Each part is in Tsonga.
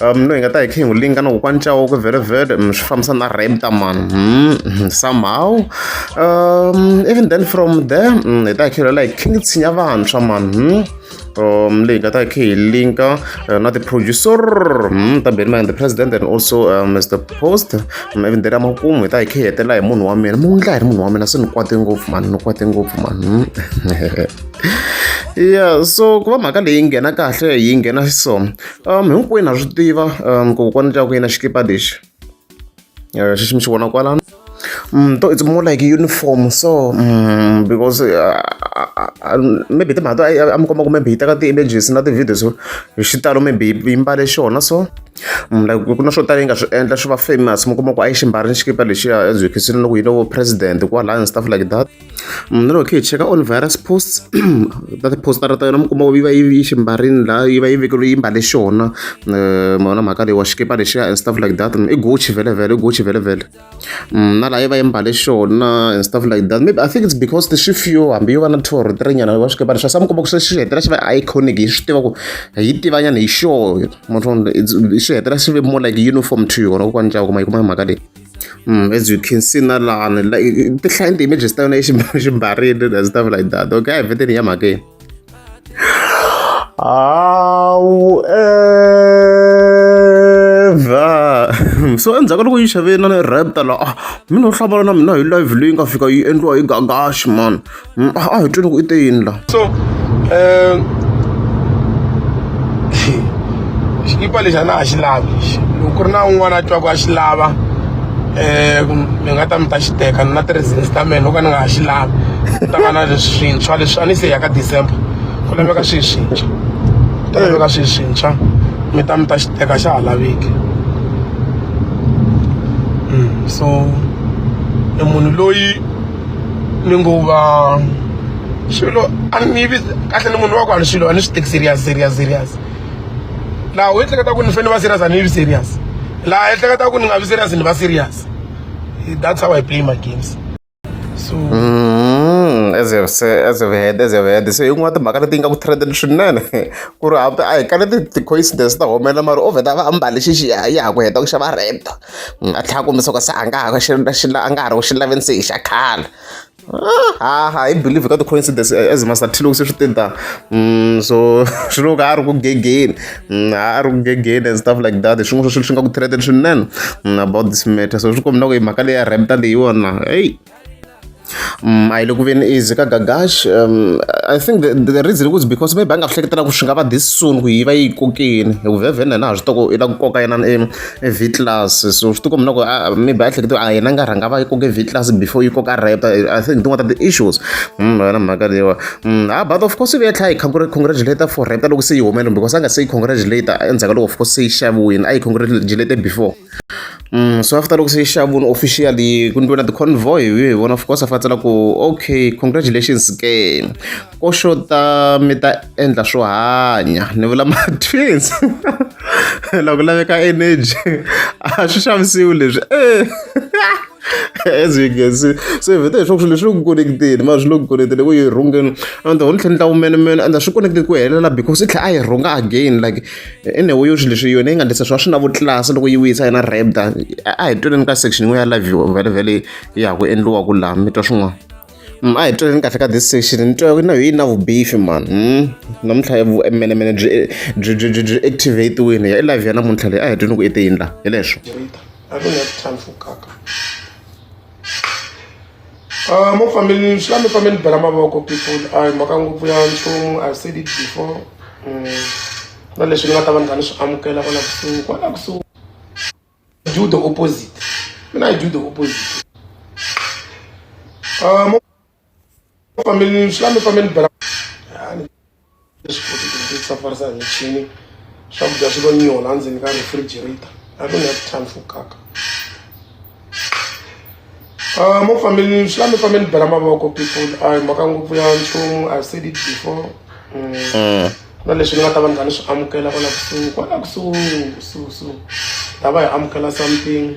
um no hi nga ta hi kha hi n'wi linga na kokwani chawoko vherevhere um swi fambisa na rapta man um somehow um even then from there um hi ta hi kha hi lwela hi king tshinya vantshwa man um um leyi nga ta hi kha hi linka uh, na ti-producer um ta benima and the president and also um, mr post um, even then amakumu hi ta hi kha hi hetela hi munhu wa mina mu ndla hi ri munhu wa mina se ni kwate ngopfu man ni kwate ngopfu man um yeah so ku va mhaka leyi nghena kahle yi nghena so um hinkwenu ha swi tiva um ku kokwana tya ku yena xikipa lexi um xexi mi xi vona kwalano um to it's more like uniform so um because uh, maybe timhaka to a mi komba ku maybe yi teka ti-images na ti-videos hi xitalo maybe yi mbale xona so mm, like ku na swo tala yi nga swi endla swi va famous mi kuma ku a yi xi mbarile xikipa lexiya as you can see loko yi lo president kwalaya and stuff like that Mm, lero khe hi cheka all virus posts that postara ta yona mi kuma yi va yi yi ximbarini laha yi va yi vekeriwe yi mbale xona eh, mona mhaka leyi wa xikipa lexiya and stuff like that i gucci vhelevhele i gucci vhelevhele mm, na laha yi va yi mbale xona and stuff like that maybe i think it's because the xifio hambi yo va na tour tirenyana wa xikipa lexa sa mi kuma ku se xi hetelela xi va iconic hi swi tiva ku hi yi tivanyana hi xona xi hetelela xi ve more like uniform to yona kokwani cava kuma yi kuma mhaka leyi as you can see na lani like ti hlaya ni ti-images ta yona eximbarini na stuff like that okay a hi veteni ya mhakeni however so endzhaku loko yi xaveni na ni rapta la ah mina u hlamala na mina hi live leyi nga fika yi endliwa hi gagashi man Mm, a a hi twi loko i te yini la so um xikipa lexi a na ha xi lavi lexi loko ku ri na un'wana a twaku a xi lava um mi nga ta mi ta xi teka ni na ti-reasons ta mina o ka ni nga ha xi lavi ni ta va na leswi swintshwa leswi a ni se ya ka december ku laveka swihi swintshwa ku ta laveka swihi swintshwa mi ta mi ta xi teka xa ha laveki Mm, so i munhu loyi ni ngo va swilo a ni vi kahle ni munhu wa ku a ni swilo a ni swi teki serious serious serious laha u ehleketa ku ni fanele va serious a ni vi serious laha ehleketa ku ni nga vi serious ni va serious that's how i play my games so mm, as you say as you heard as you heard so yin'wana timhaka leti yi nga ku trendeni swinene ku ri hambi a hi ka leti ti-coincidence ta humelela mara o vheta va ambale xixi ya ha ku heta ku xava rent ni nga tlhela kombisa ku se a nga ha xi xi a nga ha ri ku xi laveni se hi xa khale ha ha hi believe ka ti-coincidence eh, as master t loko se swi tinta mm, so swi loko a ri ku gegeni mm, a ri ku gegeni and stuff like that swin'wana swa swilo swi nga ku threaten swinene mm, about this matter so swi kombela ku hi mhaka leyi ya renta leyiwona eyi Mm, a yi le ku veni easy ka gagash um, i think the, the reason was because maybe a nga swi hleketela ku swi nga va this soon ku yi va yi kokeni hi ku vhevheni yena ha swi toko i la ku koka yena v class so swi tiko mina ku maybe a hlekete a yena nga rhanga va yi koke v class before yi koka repta i think tin'wana ta ti-issues mm, yona mhaka leyiwa mm, ha but of course i ve tlha yi congratulator for repta loko se yi humele because a nga se yi congratulator endzhaku ka loko of course se yi xaviwile a yi congratulator before Mm, so after loko se yi xavuni officially ku ni vona ti-convoy hi hi vona of course a fantsela ku okay congratulations ke ko xota mi ta endla swo hanya ni vula ma-twins loko laveka energy a swi xavisiwi leswi as you can see so hi vheta leswaku swilo leswi ku connectile mara swi lo ku connectile ku yi rhungeni and the whole tlhela ni ta wumenemene and a swi connected ku helela because i tlhela a yi rhunga again like enewo yo swi leswi yona yi nga ndlisa swi va swi na vutlasi loko yi wisa yena rebda a hi tweleni ka section yin'we ya live vhelevhele ya ha ku endliwa ku laha mi twa swin'wana mm, a hi tweleni kahle ka this section ni twa na yi na vubifi man mm, namuntlha vumenemene byi byi byi byi byi activatiwini ya i live ya namuntlha leyi a hi twini ku i te yini laha hi leswo Uh, mo family swi la mi fambe ni bela mavoko people a hi mhaka ngopfu ya nchumu i said it before um na leswi ni nga ta va ni kha ni swi amukela kwala kusuhi kwala kusuhi do the opposite mina i do the opposite uh, mo family swi la mi fambe ni bela leswi futhi ku ti safarisa hi michini swakudya swi lo nyiho laha ndzeni ka refrigerator i don't have time for kaka Uh, mo family swi lami family bela mavoko people a hi mhaka ngopfu ya nchumu i said it before mm. mm. na leswi ni nga ta va ni kha ni swi amukela kwala kusuhi kwala kusuhi kusuhi kusuhi ta va hi amukela something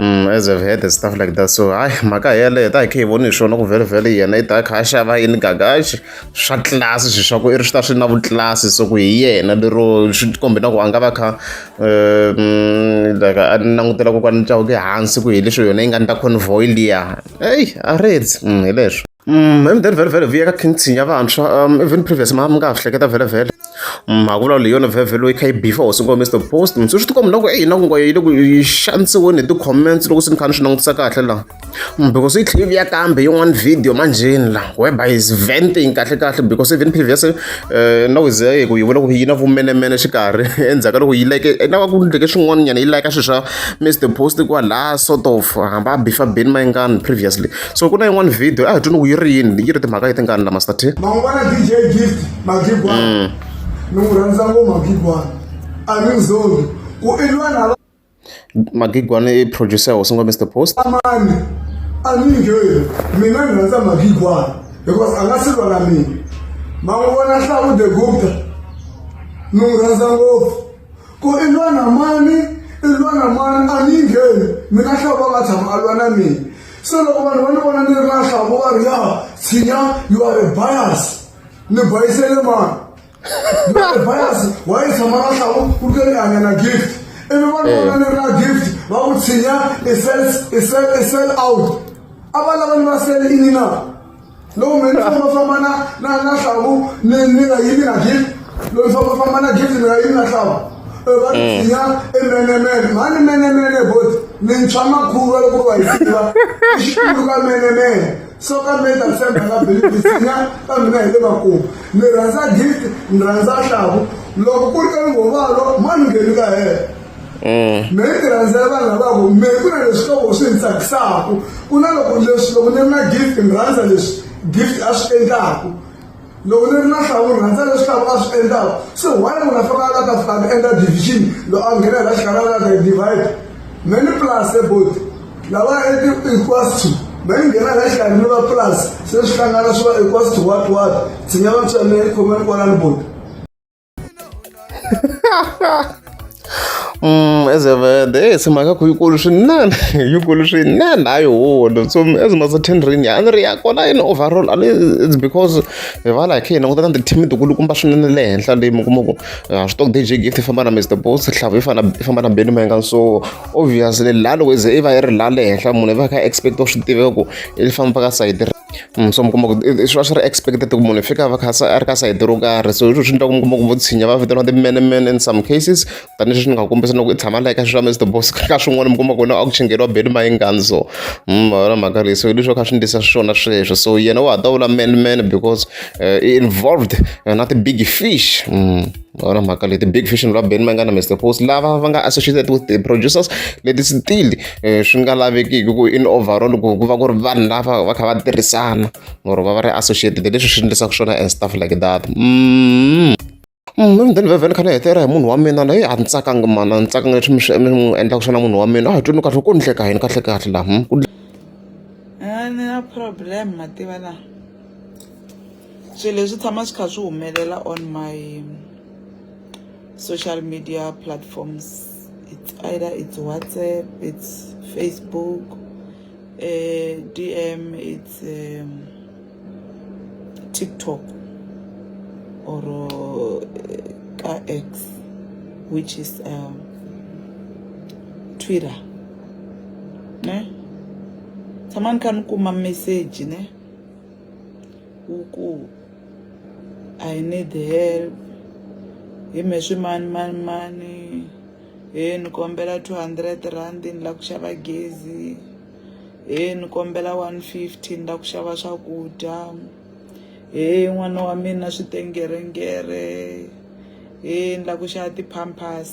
Mm, as I've heard and stuff like that so hayi mhaka hi yeleyo ta hi khe hi voni hi swona ku vhelevhele yena i ta kha a xava yini gagaxi swa tlilasi swi swa ku i ri swi ta swi na vutlilasi so ku hi yena lero swi kombe na ku a nga va kha um like a langutela kokwani ntlawu ke hansi ku hi leswi yona yi nga ndla convoy liya eyi a reds mm, hi leswo Mm, hi mudeni vhele vhele vuya ka king tshinya vantshwa um even previous ma mi nga ha swi hleketa vhele vhele mm, mhaka vulavula hi yona vhele loyi kha yi bifa hosi ngo mr post mi swi swi tikomba loko eyi na ku ngoyo yi le ku yi xanisiweni hi ti-comments loko swi ni kha ni swi langutisa kahle laha mm, because yi tlheli yi vuya kambe yin'wana video manjheni laha weba is venting kahle kahle because even previous um na ku ze ku yi vula ku yi na vumenemene xikarhi endzhaku ka loko yi like na va ku ndleke swin'wana nyana yi like swilo swa mr post kwalaha sort of hamba a bifa beni mayingani previously so ku na yin'wana video a hi twi ni ku yi ri yini yi ri timhaka leti ngani la master t man'wana dj gift magigwana mm. ni n'wi rhandza ngo magigwana a ni mzoli ku i lwana la magigwana i producer hosi ngo mr post amani a ni ngheni mina ni rhandza magigwana because a nga si lwana mina man'wana hlawu the gupta ni n'wi rhandza ngopfu ku i lwana mani i lwana mani a ni ngheni mina hlawu va nga tshama a lwana mina se loko vanhu va ni vona ni ri lahla vo va ri ya tshinya you are a bias ni bayisele mani you are a bias wa yi tshama lahla u ri ni hanya na gift ivi vanhu eh. vona ni ri na gift va ku tshinya i sell out a va lava ni va sele ini na loko mina ni fambafamba na na na hlavu ni ni nga yimi na gift loyi ni fambafamba na gift ni nga yimi na hlavu Eh, va ni tshinya emenemene mhani menemene boti ni ntshwa makhuva loko va hi tiva i xikulu ka menemene so ka meta femba nga beli ni tshinya ka mina hi le makumu ni rhandza gift ni rhandza hlavu loko ku ri ka lunghovalo mani ngheni ka hela Mm. me yi rhandzela vanhu lavavo me ku na leswi loko swi ni tsakisaka ku na loko leswi loko ni ri na gift ni rhandza leswi gift a swi endlaku loko ni ri na hlavu ni rhandza leswi hlavu a swi endlaku se why munhu a faka la ta fika a endla division loko a nghena la xikarhi la ta divide me ni plus ebot lava equals to me ni nghena la xikarhi ni va plus se swi hlangana swi va equals to what what tshinya vatswa me ni khomeni kwalani bot Mm, as a vende hey eh, simhaka ku yikulu swinene yikulu swinene hayi holo so as much as ten ring a ni ri ya kona in overall and it's because hi va like hina kutana ti-team tikulukumba swinene le henhla leyi mi kuma ku ah, swi tok dj gift i famba na mr boss hlavu i fana i famba na benny mangan so obviously la loko i ze i va i ri la le henhla munhu i va kha expect swi tiveka ku i famba ka sayiti Mm, so mi kuma ku i- i- swi va swi ri expected ku munhu i fika a va kha se a ri ka sayiti ro karhi so hiswo swi endla ku mi kuma ku vo tshinya va vitaniwa ti-manman in some cases tanihileswi swi nga ku kombisa na ku i tshama layi ka swilo swa mr boss ka swin'wana mi kuma ku na a ku chingeriwa beli mayingani so Mm, ma vona mhaka leyi so hi leswi va kha swi ndlisa swona sweswo so yena wa ha ta vula manman because eh, i involved eh, na ti-big fish Mm. Ona mhaka leti big fish ni va ben va nga na Mister Post lava va nga associated with the producers leti still eh, swi nga lavekiki ku in overall ku ku va ku ri vanhu lava va kha va tirhisana or va va ri associated leswi swi endlisaka swona and stuff like that mm. Mm, then vevhele kha ni hetera hi munhu wa mina na yi a ni tsakanga mana ni tsakanga leswi mi swi mi n'wi endlaka swona munhu wa mina a hi twini kahle ku ni hleka yini kahle kahle laha hmm? ku ni na problem mativa laha swilo leswi tshama swi kha swi humelela on my social media platforms it's either it's whatsapp it's facebook uh, dm it's um, tiktok or uh, x which is um, twitter ne tshama ni kha ni kuma message ne u ku i need help hi me swi mani mani mani he ni kombela 200 rand ni lava ku xava gezi he ni kombela 150 ni lava ku xava swakudya he n'wana wa mina swi tengerengere he ni lava ku xava ti-pampers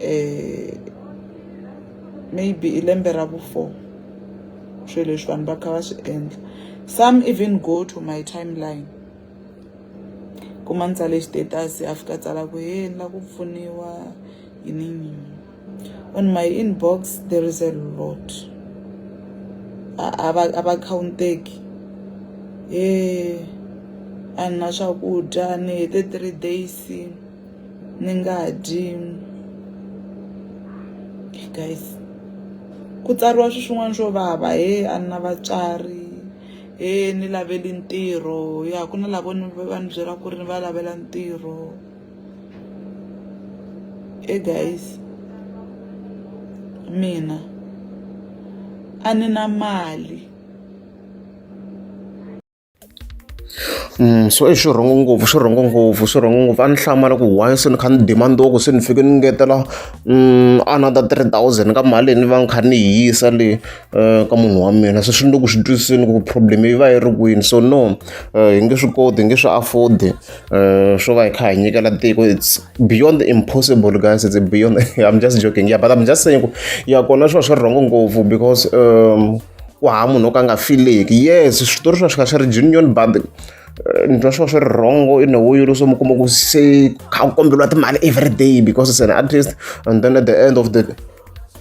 eh maybe hi lembe ra vu four swilo leswi vanhu va kha va swi endla some even go to my timeline kuma ni tsale status a fika a tsala ku he ni la ku pfuniwa yini yini on my inbox there is a lot a va a va counteki he a ni na swakudya ni hete three days. ni nga dyi guys ku tsariwa swi swin'wana swo vava he a ni na vatswari he ni laveli ntirho ya ku na lavo ni va ni byela ku ri ni va lavela ntirho e guys mina a ni na mali so i xirhongo ngopfu xirhongo ngopfu xirhongo ngopfu a ni hlamala ku why se ni kha ni demand-iwa ku se ni fike ni ngetela another three thousand ka mali leyi ni va ni kha ni yi yisa le ka munhu wa mina se swi ni le ku swi twisiseni ku problem yi va yi ri kwini so no hi nge swi koti hi nge swi afford-i swo va hi kha hi nyikela tiko it's beyond impossible guys it's beyond I'm just joking yeah but I'm just saying ku ya kona swi va swi ri wrong ngopfu because ku hava munhu o ka a nga fileki yes switori swi va swi kha swi ri junion but eh, ni twa swi va swi ri wrongo in a way yo leswo mi kuma ku se kha ku kombeliwa timali every day because it's an artist and then at the end of the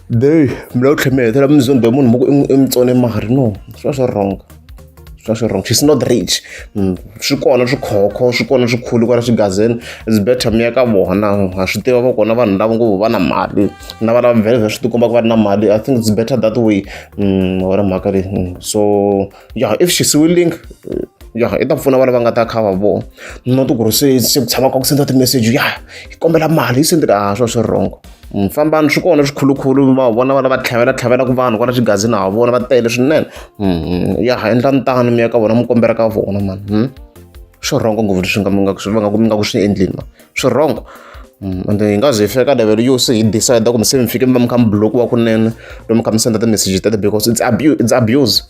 day mi lava ku tlhela mi hetelela mi zonde munhu mi ku i mutsone mari no swi va swi ri wrongo swa swi wrong she's not rich mm, swi kona swikhokho swi kona swikhulu kwala swigazini is better mi ya ka vona ha swi tiva va kona vanhu lava ngopfu va na mali na vana va vhele swi tikomba ku va ri na mali i think it's better that way mm, wona mhaka leyi mm, so yeah if she's willing ya i ta pfuna vana va nga ta kha va vona not ku ri se se ku tshama ka ku senda ti-message ya hi kombela mali yi sendeka a swa swi wrong fambani swi kona swikhulukhulu va vona vana va tlhavela tlhavelaka vanhu kwala xigazini ha vona va tele swinene hmm, ya ha endla ntano mi ya ka vona mi kombela ka vona mani hmm? swi rhongo ngopfu leswi nga mi nga swi nga mi nga ku swi endlini ma swi rhongo hmm, and hi nga ze hi fika ka level yo se hi decide kumbe se mi fike mi va mi kha mi block wa kunene lomu kha mi senda ti-message tete because it's abuse it's abuse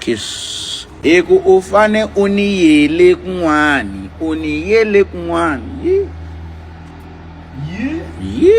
kiss hi ku u fane u ni yele kun'wani u ni yele kun'wani yi yi yi